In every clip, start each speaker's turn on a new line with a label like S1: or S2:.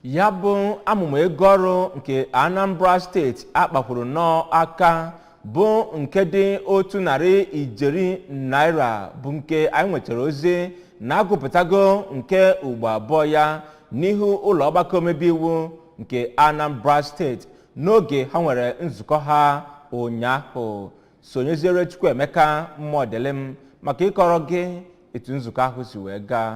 S1: ya bụ amụma ego ọrụ nke anambra steeti a kpakwuru nnọọ aka bụ nke dị otu narị ijeri naira bụ nke anyị nwetara ozi na a gụpụtago nke ugbo abụọ ya n'ihu ụlọ ọgbakọ omebe iwu nke anambra steeti n'oge ha nwere nzukọ ha ụnyaahụ sonyeziere chukwuemeka modilim maka ịkọrọ gị etu nzukọ ahụ si wee gaa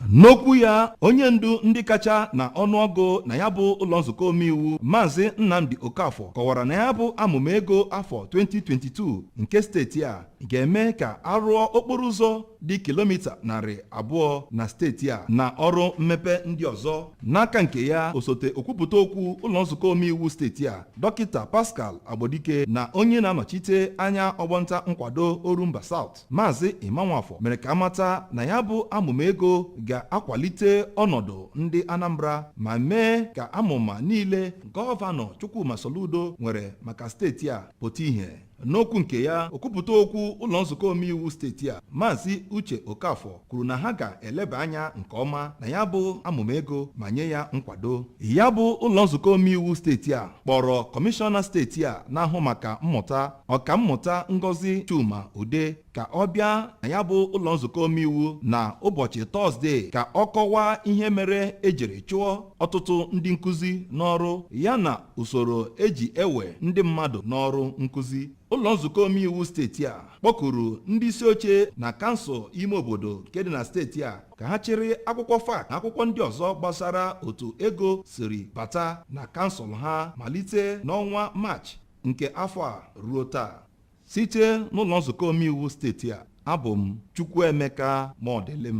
S2: N'okwu ya, onye ndu ndị kacha na ọnụọgụ na ya bụ ụlọ nzukọ omeiwu Maazị Nnamdi Okafor kọwara na ya bụ amụma ego afọ 2022 nke steeti a ga-eme ka a rụọ okporo ụzọ dị kilomita narị abụọ na steeti a na ọrụ mmepe ndị ọzọ n'aka nke ya osote okwupụta okwu ụlọ nzukọ omeiwu steeti a dọkịta Pascal Agbodike na onye na-anọchite anya ọgbọnta nkwado Orumba South Maazị Emma Nwafor mere ka a mata na ya bụ amụma ego ga-akwalite ọnọdụ ndị Anambra ma mee ka amụma niile gọvanọ Chukwuma Soludo nwere maka steeti a pụta ihe n'okwu nke ya okwupụta okwu ụlọ nzukọ omeiwu steeti a Maazị Uche Okafor kwuru na ha ga-eleba anya nke ọma na ya bụ amụma ego ma nye ya nkwado ya bụ ụlọ nzukọ omeiwu steeti a kpọrọ kọmishọna steeti a na-ahụ maka mmụta ọkammụta Ngozi Chuma Udeh ka ọ bịa na ya bụ ụlọ nzukọ omeiwu na ụbọchị tọzdee ka ọ kọwaa ihe mere e jiri chụọ ọtụtụ ndị nkụzi n'ọrụ ya na usoro e ji ewe ndị mmadụ n'ọrụ nkụzi ụlọ nzukọ omeiwu steeti a kpọkuru ndị isi oche na kansụl ime obodo nke dị na steeti a ka ha chịrị akwụkwọ FAAC na akwụkwọ ndị ọzọ gbasara otu ego siri bata na kansụl ha malite n'ọnwa maachị nke afọ a ruo taa site n'ụlọ nzukọ omeiwu steeti a abụ m Chukwuemeka Modilim